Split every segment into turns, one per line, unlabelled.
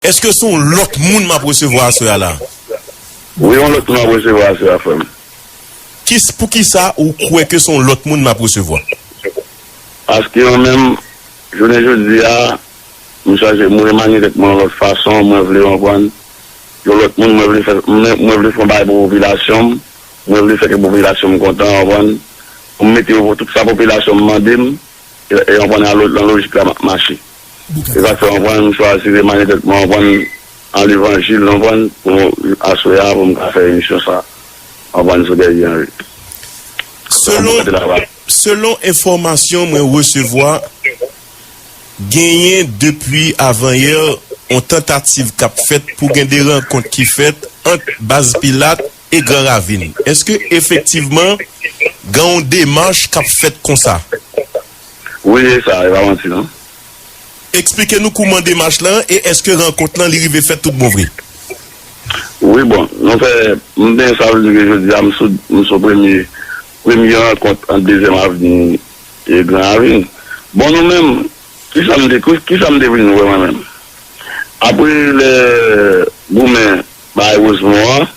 Eske son lot moun map resevwa aswè a la? Wi yon
lot moun wap resevwa aswè a frem. Kis
poukisa ou kwe ke son lot moun map resevwa?
Paske yon menm jounen jodi a m chanje m remanye tet mwen yon lot fason mwen vle anprann yon lot moun mwen vle fè mwen vle fè yon bagay pou popilasyon m mwen vle fè ke popilasyon m kontan anprann pou m mete yo tout sa popilasyon m mande m e anprann nan lojik la map mache. Se sak fè konprann m chwazi remanye tèt mwen konprann nan levanjil konprann pou aswè a pou m ka fè emisyon sa konprann sou Guerrier Henry. Selon
selon enfòmasyon mwen resevwa genyen depi avanyè on tantativ k ap fèt pou gen de rankont ki fèt ant Baz Pilat e Gran Ravin. Eske efektivman gen on demach k ap fèt konsa? Wi
e sa e pa manti non. Eksplike
nou kouman demach lan e eske rankont lan li rive fèt tout bon vre.
Wi bon nou fè m byen sa vle di ke jodi a m sou m sou premye premye rankont ant dezyèm avni e gran avni bon nou menm kisa m te kisa m te vin wè mwen menm apre lè goumen bay wozmon an.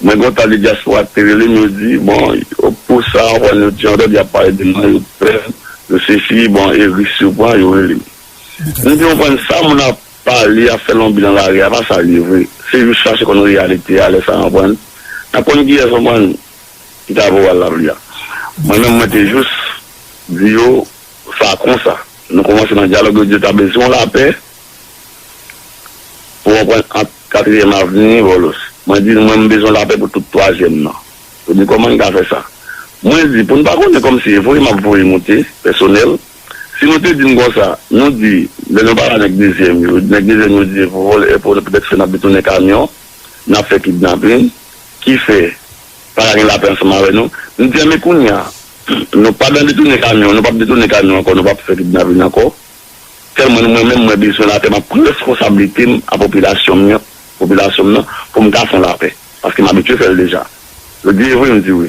Mwen kontan li dyaspora te rele m yo di bon yo pou sa anfòm yo di anpil yap pale de mwen yo pè yo sesi bon e risk yo pran yo rele m m di konprann sa moun ap pale ap fè lonbi nan lari a pa sa li ye vre se jis chache konn reyalite a lè sa konprann nap konn kiyès konprann ki ta voral lapli a mwen menm mwen te jis di yo sa konsa nou kòmanse nan dyalòg yo di yo ta bezwen yon lapè pou konprann ant Katriyèm avni, Vòlòs. Mwen di l, mwen m bezwen lapè pou tout twazyèm nan. Yo di, kòman n ka fè sa? Mwen di, pou n pa konnen kòm si e voye m ap voye moute, pèsonèl. Si nou te di n konsa, nou di, lè nou pale a nèg dezyèm yo, nèg dezyèm yo di, e pou vòlè, e pou n petèt fè n ap detounen kamyon, n ap fè kidnapin, ki fè, pa ka gen lapè ansanm avè nou. M di a men kounye a, nou pa nan detounen kamyon, nou p ap detounen kamyon ankò, nou p ap fè kidnapin ankò. Sèlman mwen menm mwen bezwen lapè map pran reskonsablitem a popilasyon m yan popilasyon m nan pou m ka fon lapè paske m abitye fèl deja yo di evre m di wi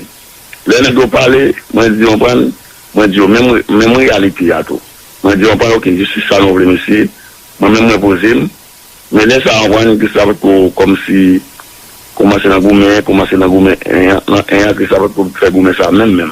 lè nèg yo pale mwen di onprann mwen di yo menm menm reyalite a tou mwen di onprann ok jistis sa nou vle mesye mwen menm mwen poze m men lè sa onprann kris la potko kòmsi koumanse nan goumen koumanse nan goumen 1 an nan 1 an kris la potko fè goumen sa menm menm.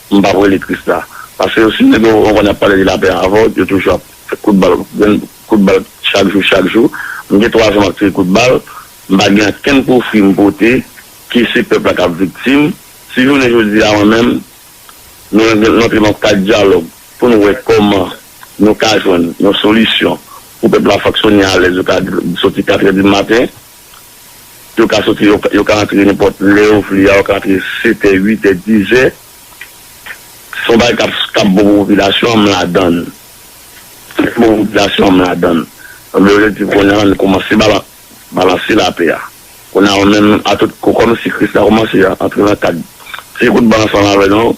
M pap rele Krisla. Paske yo si nèg yo konn yap pale de lapè avèw yo toujou ap fè kout bal gen kout bal chak jou chak jou m gen 3 zan map tire kout bal m pa gen ankenn pwofwi m pote ke se pèp la kap viktim si jounen jodi a mwen menm nou rantre nan kad dyalòg poun wè kòman nou ka jwenn yon solisyon pou pèp la fonksyone alèz yo ka soti katrè di maten. Yo ka soti, yo ka antre nenpòt lè yo vle a, yo ka antre setè, uitè, dizè. Se yon bagay k ap bon pou popilasyon an, m ladan l. Sak bon pou popilasyon an, m ladan l. Ebyen yo te di kounye a, an nou koumanse balanse lapè a. Kounye a ou menm atout kou kòmsi kris la koumanse antre nan kad. Ti kout ban ansanm avè nou.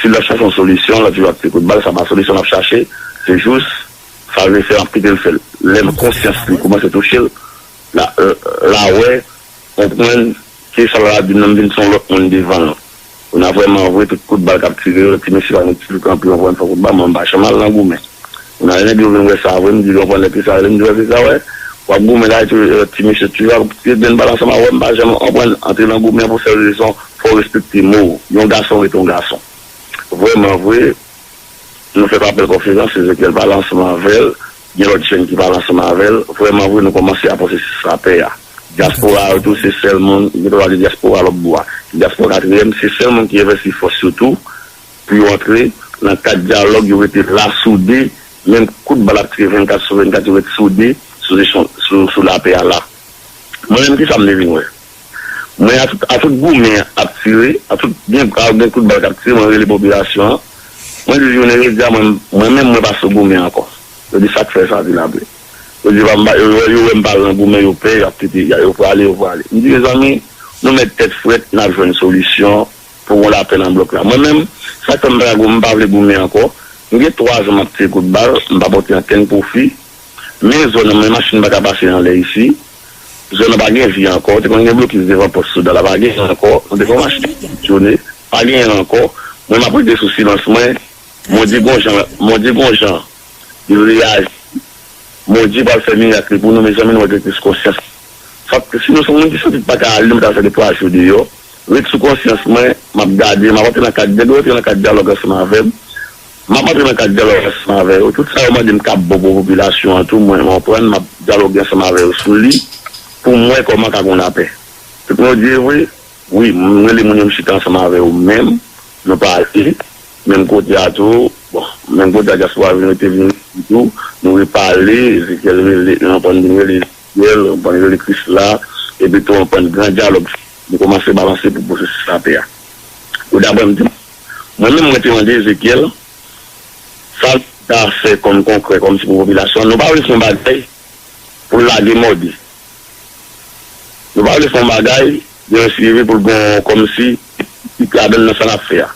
Si lap chache yon solisyon lap toujou ap ti kout bal sa pa solisyon lap chache se jous sal vle fè lap kitel fèl lè konsyans li koumanse touchel la wè konprann ke sal la di nan vin son lòt moun devanl kounya vrèman vre tout kout bal kap tire yo ti mesye pa met ti dout anpil anpil fè kout bal mwen pa janm al nan goumen kounya lè nèg yo vin wè sa vre mdi yo konprann epi sa rele mdi yo epi sa wè wap goumen la epi ti mesye toujou ap tire grenn bal ansanm avèm mpa janm konprann antre nan goumen pou sèl rezon. Fò w respekte mo w. Yon gason rete yon gason. Vrèman vre, nou fè pa bèl konferans, Ezekyèl pa al ansanm avè l, gen lòt jèn ki pa al ansanm avè l. Vrèman vre, nou kòmanse a panse se sa pè a. Dyaspora a yo tou se sèl moun, gen dwa pale de dyaspora lòt bò a. Dyaspora katriyèm, se sèl moun ki envèsti fòs yo tou pou yo antre nan kad dyalòg, yo rete la soude, menm kout bal ap tire 24 sou 24, yo ret soude sou lapè a la. Mwen menm, ki sa m te vin wè? Mwen a tout goumen ap tire, a tout gen kout bal kap tire mwen rele popilasyon an, mwen di jounen jodi a mwen menm mwen pa sou goumen ankò. Yo di sak fè sa di la vre. Yo di yo wèm pa lan goumen yo pè yap kite yo prale yo prale. M di mezanmi nou mèt tèt frèt nap jwenn solisyon pou gon lapè nan blòk la. Mwen menm sak fè m pa vle goumen ankò, m gen 3 zan map tire kout bal m pa pote ankenn pwofi, men zòn nan men machin paka pase anlè isi. Zòn nan pa gen vi ankò. Te konn gen blokis devan pòs Soudan la. Pa gen ankò. Nou te konn mache djoune. Pa gen ankò. Mwen m ap rete sou silans mwen. Bondye gon jan Bondye gon jan li reyaji. Bondye pral fè mirak li pou nou. Mezanmi nou wè gen kriz konsyans. Sa t si nou son moun ki santi pa ka ale nou pa t al fè 2 twa jou deyò. Ret sou konsyans mwen. M ap gade. M ap antre nan kad. Gen dwa antre nan kad dyalòg ansanm avè m. M ap antre nan kad dyalòg ansanm avè yo. Tout sa yo mande m kab bon pou popilasyon an tou, mwen konprann. M ap dyaloge ansanm avè yo sou li pou m wè kòman ka gon lapè. Tout moun yo di e vre? Wi, m rele moun yo m chita ansanm avè yo menm, nou pale. Menm kote a tou, bon, menm kote a dyaspora vin rete vin rete tou, nou repale. Ezekyèl rele, anpwann vin rele Ezekyèl, anpwann rele Krisla. Epitou anpwann gran dyalòg fin. Nou kòmanse balanse pou pwosesis lapè a. Yo dapre m di m. Mwen menm mwen te mande Ezekyèl, Sa nou ka fè kòm konkrè, kòm si pou popilasyon an? Nou pa vle fè yon bagay pou l lage mòde. Nou pa vle fè yon bagay gen yon swivi pou l gen yon kòm si ki ladann nan sa n ap fè a.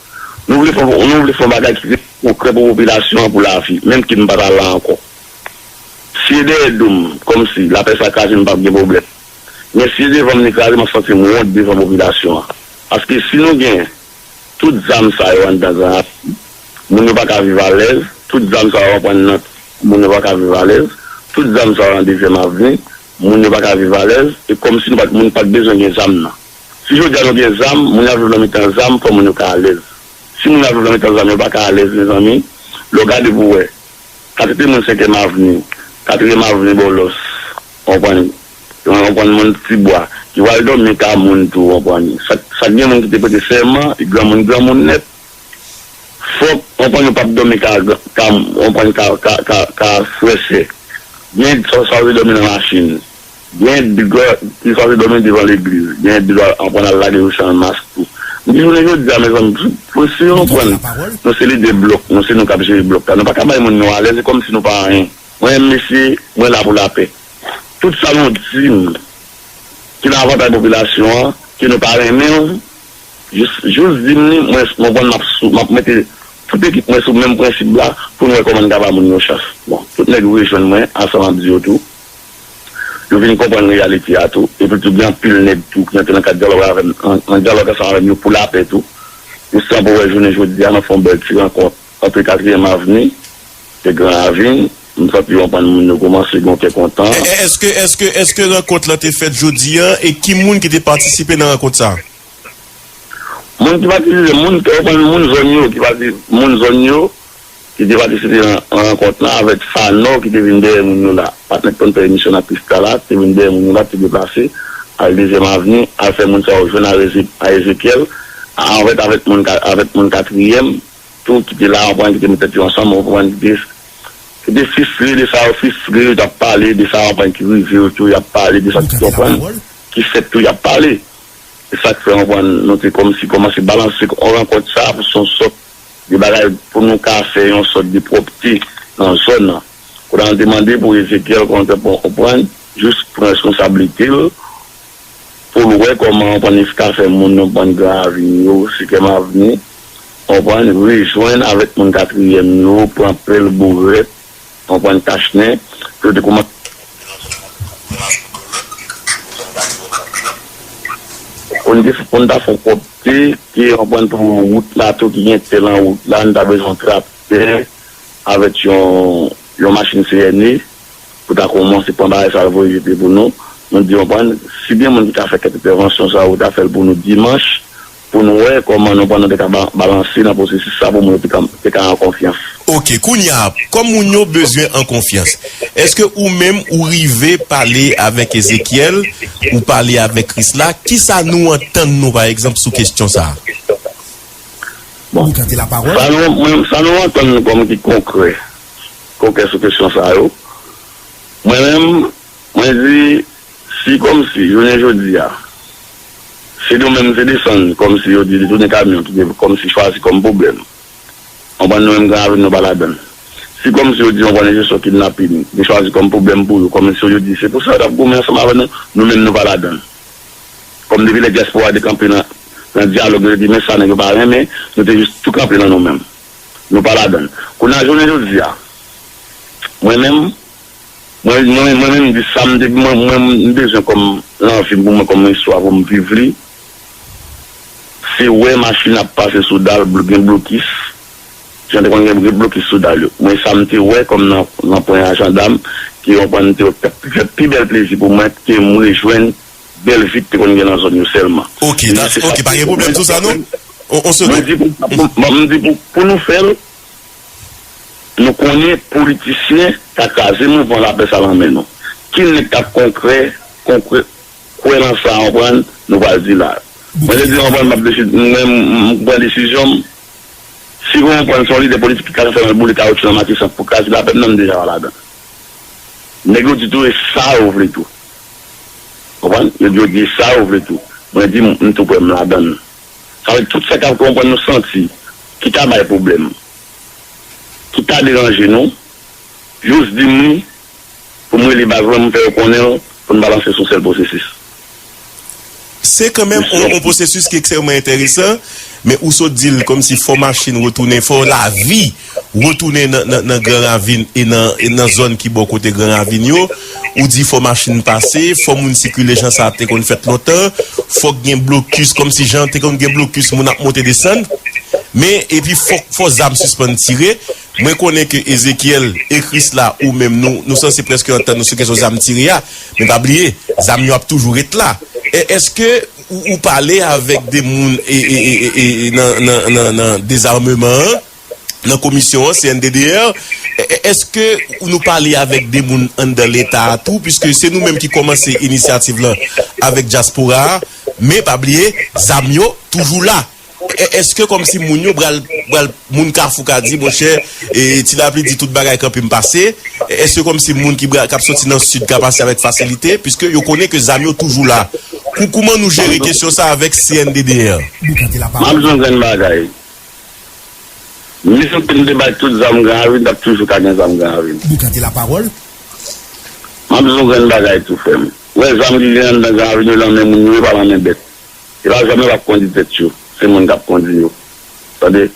Nou vle fè nou vle fè yon bagay ki rete konkrè pou popilasyon an pou lavi, menm ki n pa ta la ankò. Si e dèyè do m, kòm si, lapè sa kraze m pa p gen pwoblèm. Men si e devan m li kraze m ap santi m wont devan popilasyon an. Paske si nou gen. Tout zam sa yo anndan Granrasi, moun yo pa ka viv alèz, tout zam sa yo ap ann Nanti, moun yo pa ka viv alèz, tout zam sa yo nan Dezyèm Avni, moun yo pa ka viv alèz, e kòmsi nou pa t moun pa t bezwen gen zam nan. Si jodi a nou gen zam, moun yo ap viv nan mitan zam, fò moun yo ka alèz. Si moun yo ap viv nan mitan zam yo pa ka alèz mezanmi, lè w gade pou w wè, katite moun Senkyèm Avni, Katriyèm Avni Bòlòs, w konprann? Yon konprann moun ti bwa ki pral dòmi ta moun tou konprann sak gen moun ki te prete sèman granmoun granmoun nèt fòk konprann yo pap dòmi ka konprann ka frè sè gen sa yo te dòmi nan machin gen dwa gen sa yo te dòmi devan legliz gen dwa konprann al lage yo san mask tou m di jounen jodi a mezanmi pou si yo konprann nou se lidè blòk nou se nou kap jere blòk la nou paka bay moun nou alèz e kòmsi nou pa anyen mwen menm mesye mwen la pou lapè. Tout sa nou di l ki nan avantay popilasyon an, ke nou pa renmen l, jis di m li, mwen konn m ap mete tout ekip mwen sou menm prensip la pou n wè kòman n ka ba moun yon chans. Bon, tout nèg yo rejwenn mwen ansanm ap di yo tou. Yo vin konprann reyalite a tou. Epi tou gen anpil nèg tou ki antre nan kad dyalòg avè m, nan dyalòg ansanm avè m yo pou lapè tou. Yo sanble wè jounen jodi a n ap fè yon bèl ti rankont antre Katriyèm Avni e Gran Ravin. M santi yon bann moun yo koumanse gen yon kè kontan. Eske eske
eske rankont lan te fèt jodi an e ki moun ki te patisipe nan rankont sa?
Moun ki patisipe, moun kè kontan, moun zòn yo ki pati, moun zòn yo ki te patisipe nan rankont lan avèk Phanor ki te vin dèyè moun yo la. Patnè ki konn fè emisyon nan Prisca la te vin dèyè moun yo la, te deplase al dezyèm avni al fè moun sa yo jwenn a Ezekyèl, a Anvèt avèk moun avèk moun katriyèm. tou ki te la an pran ki te met tèt yo ansanm an pran ki te ki te fistre de sa yo fistre yo tap pale de sa an pran ki rive yo tou yap pale de sa ki an pran ki fèt tou yap pale se sak fè an pran nou te kòmsi kòmanse balanse an rankont sa pou son sòt de bagay pou nou ka fè yon sòt de pwòpte nan zòn nan kote a nou te mande pou Ezekyèl kòmantè pou an pran jis pran reskonsablite l pou l wè kòman Pannis ka fè moun nan Bann Gran Avni yo, Sikem Avni, konprann, rejwenn avèk moun Katriyèm yo, pran pèl bourèt, konprann, kachnen, pou yo te koumanse pwomèt nan zòn nan pou yo al pran lòt ekriti pou zòn sa vin zòn blan. Pou n te pou n ta fè pwòpte, ke, konprann, pou wout la tou ki gen tè lan wout la, n ta bezwen traktè avèk yon yon machin CNE. pou ta kòmanse pran bagay sa yo voye jete pou nou, nou di anpwen si gen moun ki ka fè kèk entèvansyon sa yo ta fèl pou nou dimanch pou nou wè kòman nou pran nou te ka balanse nan pwosesis sa pou moun yo te ka an konfyans. Ok
kounya kòm moun yo bezwen an konfyans eske ou menm ou rive pale avèk Ezéchiel ou pale avèk Chrisla kisa nou antann nou pa egzanp sou kesyon sa? Bon
sa nou antann
nou kòm ki konkrè. Koken sou kesyon sa yo. Mwen menm, mwen di, si kòmsi jounen jodi a, se nou menm se desann kòmsi yo di detounen kamyon ki te kòmsi chwazi kòm pwoblèm. Konprann nou menm Gran Ravin nou pa ladan l. Si kòmsi yo di òganizasyon kidnapin te chwazi kòm pwoblèm pou yo, kòmsi yo di se pou sa yo t ap goumen ansanm avè nou, nou menm nou pa ladan l. Kòm depi lè dyaspora te kanpe nan dyalòg yo te di men sa nèg yo pa renmen, nou te jis tou kanpe nan nou menm. Nou pa ladan l. Kounye a, jounen jodi a, mwen menm, mwen, mwen, mwen menm m di sa m te, mwen, mwen m bezwen kòm lanvi m pou mwen kòm istwa pou m viv li, se wè machin ap pase sou dal blo, gen blokis, jan te konn gen blokis sou dal yo. Mwen sa m te wè kòm nan ranpwen a jandam ki ranpwen m te wè k t ap fè pi bèl plezi pou mwen ke m rejwenn. bèl vit te konn gen nan zòn yo sèlman. Ok Mwen di se sa ok pa
gen pwoblèm sou sa non on se Mwen di pou Mwen di
pou pou nou fèl nou konnen politisyen ka kraze mouvman lapè sa lan men nou ki nèg kap konkrè konkrè kwè lan sa anprann nou pral di la Mwen te di anprann map desi mwen mpran desizyon m si mwen anprann son lidè politik ki ka fè lan boule kawotchou lan matisan pou kraze lapè m nan m deja pa ladan nèg yo di tou e sa yo vle tou. Konprann? Yo di yo di sa yo vle tou. Mwen di m tou prè m ladan l. Sa vle di tout sa k ap konprann nou santi ki ta bay pwoblèm, ki ta deranje nou, jous di m li pou m rele baz mwen m fè yo konnen l pou n balanse sou sèl pwosesis.
Se kanmenm on pwosesis ki ekstrèmman enteresan, men ou sot di l kòm si fò machin retounen, fò lavi retounen nan gran ravin e nan zòn ki bò kote gran ravin yo. Ou di fò machin pase, fò moun sikile jan sa te konn fèt lontan, fòk gen blokis kòm si jan te konn gen blokis moun ap monte desann, men epi fòk fò zam sispann tire. Mwen konnen ke Ezekyèl e Kris la ou menm nou, nou sanse prèske antann nou sou kesyon zam tire a, men pa bliye, zam yo ap toujou ret la. È, èske ou, ou pale avèk de moun e, e, e, e, e, e, nan, nan, nan, nan Dezarmeman an, nan Komisyon an, CNDDR, è, è, èske ou nou pale avèk de moun anndan Leta a tou, piske se nou menm ki kòmanse inisyativ lan avèk dyaspora a, men pa bliye, zam yo toujou la. Eske kòmsi moun yo pral pral moun kafou ka di monchè e ti lapli di tout bagay kanpe m pase eske kòmsi moun ki pral kap soti nan sid ka pase avèk fasilite piske yo konnen ke zam yo toujou la kou kouman nou jere kesyon sa avèk CNDDR. Map di yon grenn bagay menm
ke nou te bay tout zam gran avil tap toujou ka gen zam gran avil map di yon grenn bagay tou frèm wè zam ki gen anndan gran avil yo lan men moun yo yo pa lan men bèt. Yo pa janm yo pap kondi tèt yo se moun kap kondi yo tande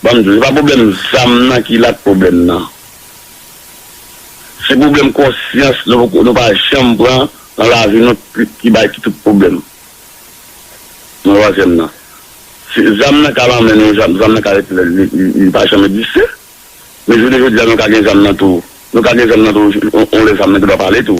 banm diw se pa problèm zam nan ki la k problèm nan se problèm konsyans nou poko nou pa janm pran nan lavi nou ki bay ki tout problèm nan wazyèm nan se zam nan ka lan men nou zam nan ka ret li pa janm egziste men jounen jodi a nou ka gen zam nan tou nou ka gen zam nan tou yon lè zam nan gen dwa pale tou.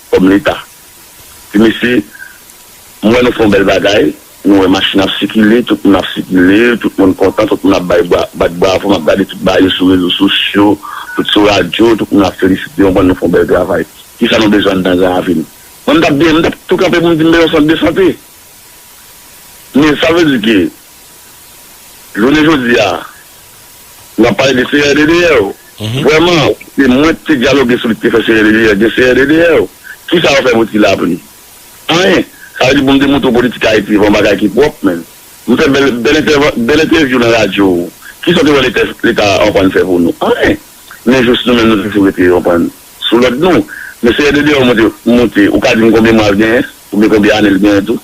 Kòm leta. Ti mesye, m wè nou fè yon bèl bagay, nou wè machin ap sikile, tout moun ap sikile, tout moun kontan, tout moun ap bay bwa, bat bravo, m ap gade tout bagay yo sou rezo sosyo, tout sou radyo, tout moun ap felisite, konprann nou fè yon bèl travay. Kisa nou bezwen anndan Gran Ravin? Mwen m t ap byen, m t ap tou kanpe pou m di m bezwen sant de sante. Men sa vle di ke Jounen jodi a, n ap pale de CRDDR. Vrèman, se mwen ki te dyaloge sou li ki te fè CRDDR gen CRDDR. Ki sa yo fè pou ti lapli? Anyen! Sa vle di pou m demontre w politik Ayiti pa yon bagay ki pwòp menm. M fè bèl bèl entèvan bèl entèvyou nan radyo ou. Ki sa w te wè leta leta anprann fè pou nou? Anyen! Men jous nou menm nou toujou rete anprann sou lòd nou. Men CRDDR monte monte ou ka di m konbyen mwa l genyen? Oubyen konbyen ane l genyen tou?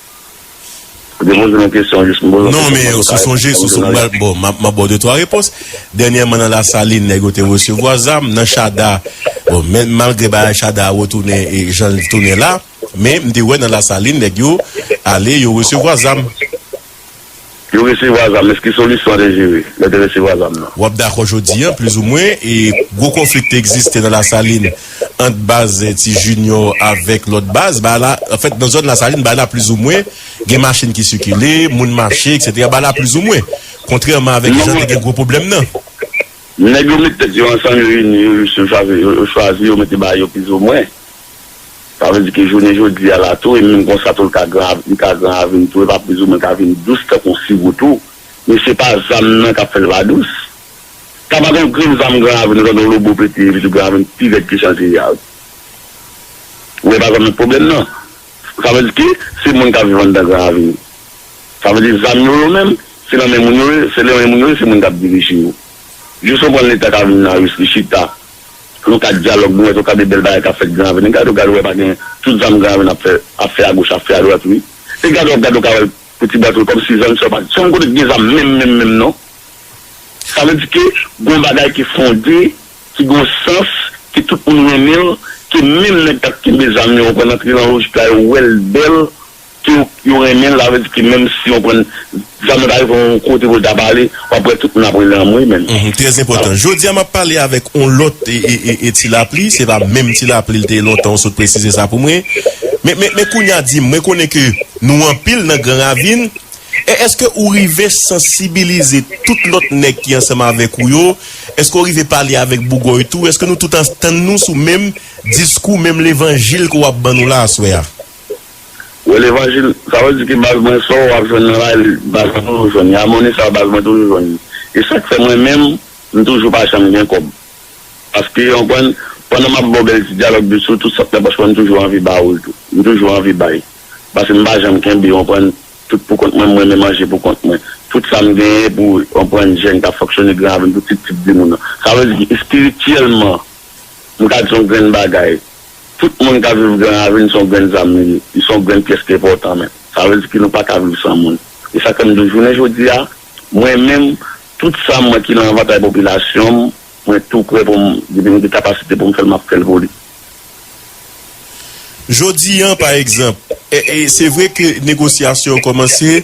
Non men yo sou sonje sou sonje mwen bon map baw 2 3 repons dènyèman nan lasalin nèg yo te resevwa zam nan chada bon men malgre bagay chada a retounen e janl tounen la men m te wè nan lasalin nèg yo ale yo resevwa zam.
Yo resevwa zam, men se ki solisyon an te jere lè te resevwa zam nan? Wap dakò jodi an
plizoumwen e gwo konfli ki te egziste nan Lasalin ant baz Ti Junior avèk lòt baz ba la, anfèt nan zòn Lasalin ba la plizoumwen gen machin ki sikile, moun mache eksetera ba la plizoumwen, kontrèman avèk jan te gen gwo pwoblèm nan. Nèg yo
met tèt yo ansanm yo ini yo chwazi yo mete ba yo plizoumwen. Sa vle di ke jounen jodi a la tou, e menm kon sa tou l ka gran, li ka gran avni tou, e pa pliz ou mwen ka vin dous tankou yon siwo tou. Men se pa zam nan k ap fè l pa dous. Sa pa gen yon grenn zam gran avni ou tande yon lobo pete epi tou gran avni pi rèd ke chan siriyal. Ou e pa konn pwoblèm nan. Sa vle di ke se moun k ap viv anndan gran avni. Sa vle di zam yo, yo menm, se nan men moun yo ye, se nan men moun yo ye, se moun k ap dirije yo. Jis yon pwen leta ka vin nan Ris li chita. Nan kad dyalòg nou wè tou ka de bèl bagay kap fèt gran aveni gad ou gad ou wè pa gen tout zam gran aveni ap fè ap fè agoch ap fè adwat wi e gad ou ap gad ou ka wèl pou ti bwa tou kòm si zòn sa yo pa janm konnen ki gen zam menm menm menm non sa vle di ke gon bagay ki fonde ki gon sans ke tout moun renmenl ke menm nèg kap kenbe zam yo ou konprann antre nan lojik la yo wèl bèl. Ke yo renmen l, sa vle di ke menm si yon konn zanmi pa rive yon kote pou l ta pale, w ap wè tout moun ap rele anmwey menn. Hum trè enpòtan. Jodi
a m ap pale avèk yon lòt Ti Lapli, se pa menm Ti Lapli l te ye lontan ou sot presize sa pou mwen. Men men kounye a di m, mwen konnen ke nou anpil nan Gran Ravin, e èske ou rive sansibilize tout lòt nèg ki ansanm avèk ou yo? Èske ou rive pale avèk Bougòy tou? Èske nou tout antann nou sou menm diskou, menm levanjil ke w ap ban nou la aswè a? Wè
levanjil sa vle di ke baz mwen sa w ap jwenn nan la li baz mwen toujou jwenn li amoni sa baz mwen toujou jwenn li e sak fè mwen menm m toujou pa janm gen kòb paske konprann pandan m ap ba w bèl ti dyalòg de sou tout sa k nan pòch mwen m toujou anvi ba w l tou m toujou anvi bay paske m pa janm kenbe konprann tout pou kont mwen m renmen manje pou kont mwen tout sa m genyen pou konprann jèn k ap fonksyone gran avè m tout tip tip di moun nan sa vle di espirityèlman m ka di yon grenn bagay Tout moun kap viv gran ravin son grenn zam li ye, li son grenn pyès ki enpòtan menm. Sa vle di ke nou pa ka viv san moun. E sa fèm di jounen jodi a, mwen menm, tout sa mwen ki nan avantay popilasyon m, mwen tou prè pou m, depi m gen kapasite pou m fè l, m ap fè l pou li.
Jodi an pa egzanp, se vre ke negosyasyon yo kòmanse,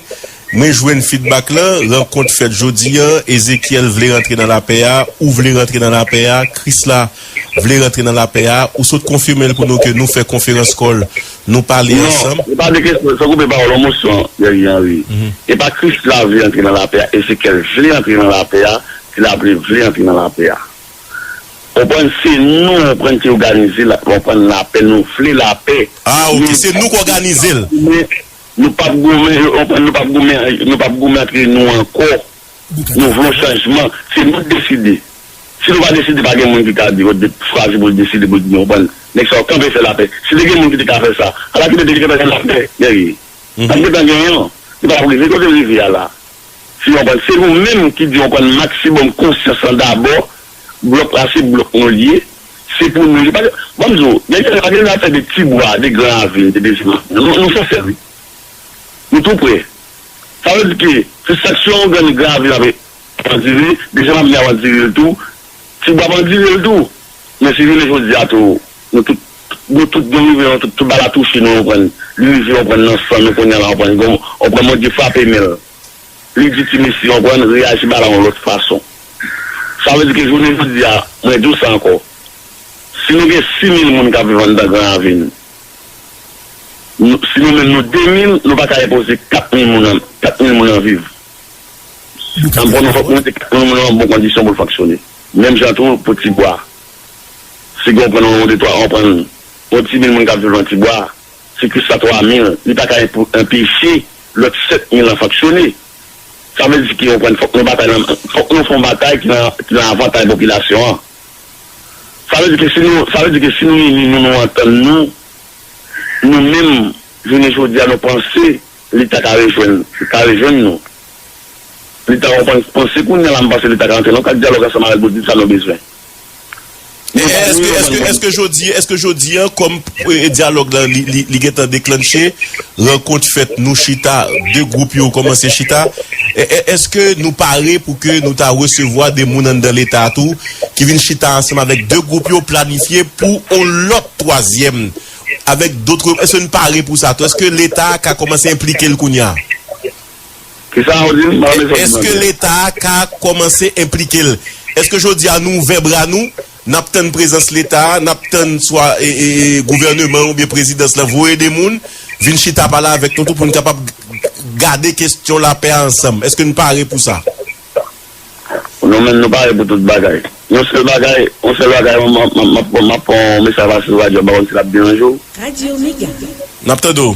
Mwen jwenn feedback lan, rankont fèt jodi an, Ezekiel vle rantre nan lapè a, ou vle rantre nan lapè a, Krisla vle rantre nan lapè a, ou sot konfime l pou nou ke nou fè konferans kòl, nou pale ansanm. Non, e pa de kesyon, san koupe
pawòl ou Mousson, Guerrier Henri, e pa Krisla vle rantre nan lapè a, Ezekiel vle rantre nan lapè a, Tilaple vle rantre nan lapè a. Ou konprann, se nou ou konprann ki oganize l, ou konprann, lapè, nou vle lapè. Ah ok, se nou k
òganize l. Nou
pap goumen yo konprann nou pap goumen nou pap goumen antre nou ankò nou vle yon chanjman se nou deside si nou pa deside pa gen moun ki ka di yo de chwazi pou l deside pou l di yo konprann nèg sa yo kanpe fè lapè si te gen moun ki te ka fè sa ala kile te gentan gen lapè Guerrier ta p gentan gen an li pa tap rive kote l rive a la si yo konprann se nou menm ki di yo konprann maksibòm konsyans lan dabò blòk la se blòk nou l ye. Se pou nou li pa gen Ban m di w Gen kèk pa gen zafè de ti bwa de gran avni de dezi mantè non Nou fè fè wi Nou tou prè Sa vle di ke se sak sou yon grenn gran avni ap andire dezyèm avni ap andire l tou Ti bwa ap andire l tou Men si jounen jodi a tou Nou tout Nou tout nou rive yon tout Tout ba la touche nou anprann Li rive anprann nan san nou kounye a la anprann Anprann Bondye frape men l li di ti mesye yo konprann, reyaji ba la yon lòt fason. Sa vle di ke jounen jodi a, mwen di w sa ankò, si nou gen 6000 moun k ap viv anndan Gran Ravin, si nou menm nou 2000, nou pa ka enpoze 4000 moun an, 4000 moun an viv. An bon, nou fòk nou mete 4000 moun an nan bon kondisyon pou l fonksyone. Menm jan tou pou Tibwa. Si gen yon pwen nan yon de twa, anprann, yon ti mil moun k ap viv nan Tibwa, Sikris la twa mil, li pa ka enpeche lòt sèt mil lan fonksyone. Sa vle di ke ou konprann fòk nou batay lan, fòk nou fon batay ki lan avantay popilasyon an. Sa vle di ke si nou, sa vle di ke si nou ini nou, nou antann nou, nou menm jounen jodi a nou panse leta ka rejwenn, ka rejwenn nou. Leta konprann, panse kounye a la m panse leta ka antre lan yon kad dyalòg ansanm avèk Bodit sa nou bezwen. Men
eske jodi eske jodi an kòm dyalòg la li gentan deklanche rankont fèt nou chita 2 gwoup yo kòmanse chita eske nou pare pou ke nou ta resevwa 2 moun anndan leta tou ki vin chita ansanm avèk 2 gwoup yo planifye pou on lòt twazyèm avèk dotre eske nou pare pou sa tou eske leta ka kòmanse enplike l kounya. Eske leta a ka kòmanse enplike l? Eske jodi a nou ouvè bra nou, n ap tann prezans leta a, n ap tann swa gouvèneman an oubyen prezidans lan voye de moun vin chita pale avèk nou tou pou n kapab gade kesyon lapè a ansanm? Eske n pare pou sa?
Non menm, nou pare pou tout bagay. Yon sèl bagay, yon sèl bagay m ap pran, m ap pran yon mesaj pase sou radyo a m pa konn si l ap deranje w.
N ap tande w.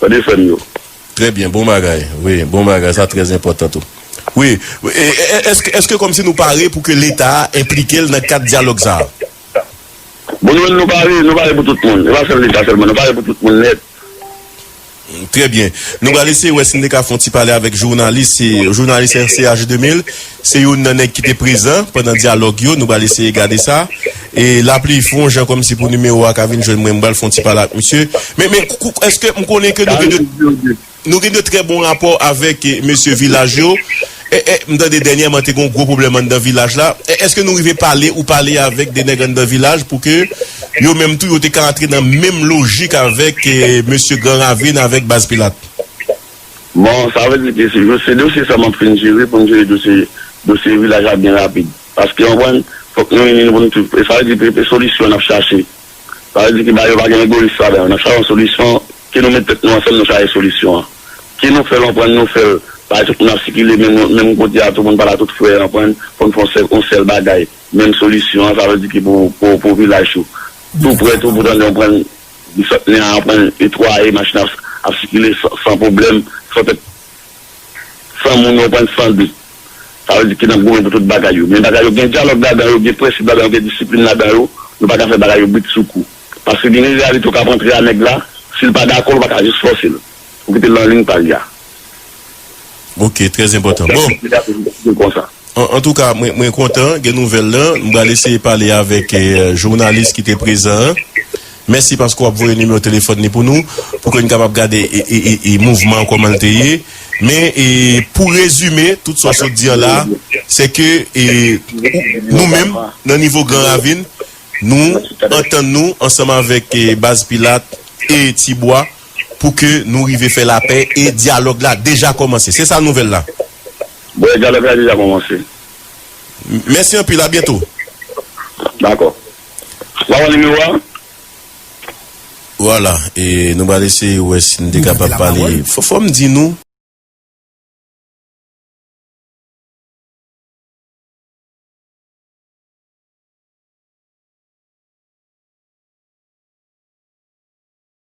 Tande frè m yo. Trè byen bon
bagay wi bon bagay sa trè enpòtan tou wi eske eske kòmsi nou pare pou ke leta enplike l nan kad dyalòg sa a.
Bon nou menm nou pare nou pare pou tout moun se pa sèl leta sèlman nou pare pou tout moun nèt.
Trè byen nou pral eseye wè si nou te ka fon ti pale avèk jounalis jounalis RCH 2000. Se youn nan nèg ki te prezan pandan dyalòg yo, nou pral eseye gade sa. E Lapli fon jan kòm si pou nimewo a ka vin jwenn mwen, m pral fon ti pale ak misye. Men, men, èske m konnen ke nou gen de, nou gen de trè bon rapò avèk mesye Vilaj yo. E, e, m tande dènyèman te gen yon gwo pwoblèm anndan Vilaj la. E, èske nou rive pale ou pale avèk de nèg anndan Vilaj pou ke yo menm tou yo te ka antre nan menm lojik avèk mesye Gran Ravin avèk Baz Pilat? Bon,
sa vle di ke se dosye sa map fin jere pou m jere dosye dosye vilaj la byen rapid. Paske konprann, fòk nou ini nou pou nou tout. Sa vle di ke se solisyon nap chache. Sa vle di ke bagay yo pa gen egoyis ladan yo. Nap chache yon solisyon, ke nou met tèt nou ansanm nou chache solisyon an. Ke nou fè l konprann nou fè l bay tout moun ap sikile menm menm kote a tou pou n pa la tout frè konprann, pou n fè yon sèl yon sèl bagay, menm solisyon an sa vle di ke pou pou pou vilaj tou. Tou prè tou pou tande konprann. Desant nen an ap netwaye, machin an ap sikile san pwoblèm, san tèt, san moun yo pran san de. Sa vle di ke n ap goumen pou tout bagay yo. Men bagay yo gen dyalòg ladan yo, gen prensip ladan yo, gen disiplin ladan yo. Nou pa ka fè bagay yo britsoukou. Paske gen reyalite ou ka ap antre a nèg la, si l pa dakò ou pa ka jis fòse l. Ou kite l nan lign pa li a. Ok, trè enpòtan.
Bon, antouka mwen kontan gen nouvèl lan. M pral eseye pale avèk jounalis ki te prezan an. Mèsi paske w ap voye nimewo telefòn li pou nou, pou ke n kapab gade mouvman an kòman l te ye. Men, pou rezime tout sa w sot di an la, se ke nou menm nan nivo Gran Ravin, nou antann nou ansanm avèk Baz Pilat e Tibwa, pou ke nou rive fè lapè e dyalòg la deja kòmanse. Se sa nouvèl la? Bon, dyalòg
la deja kòmanse.
Mèsi anpil, a byento. Dakò.
Wap wè nimewo a?
Vwala, e nou pral eseye wè si nou te kapab pale. Fò m di nou.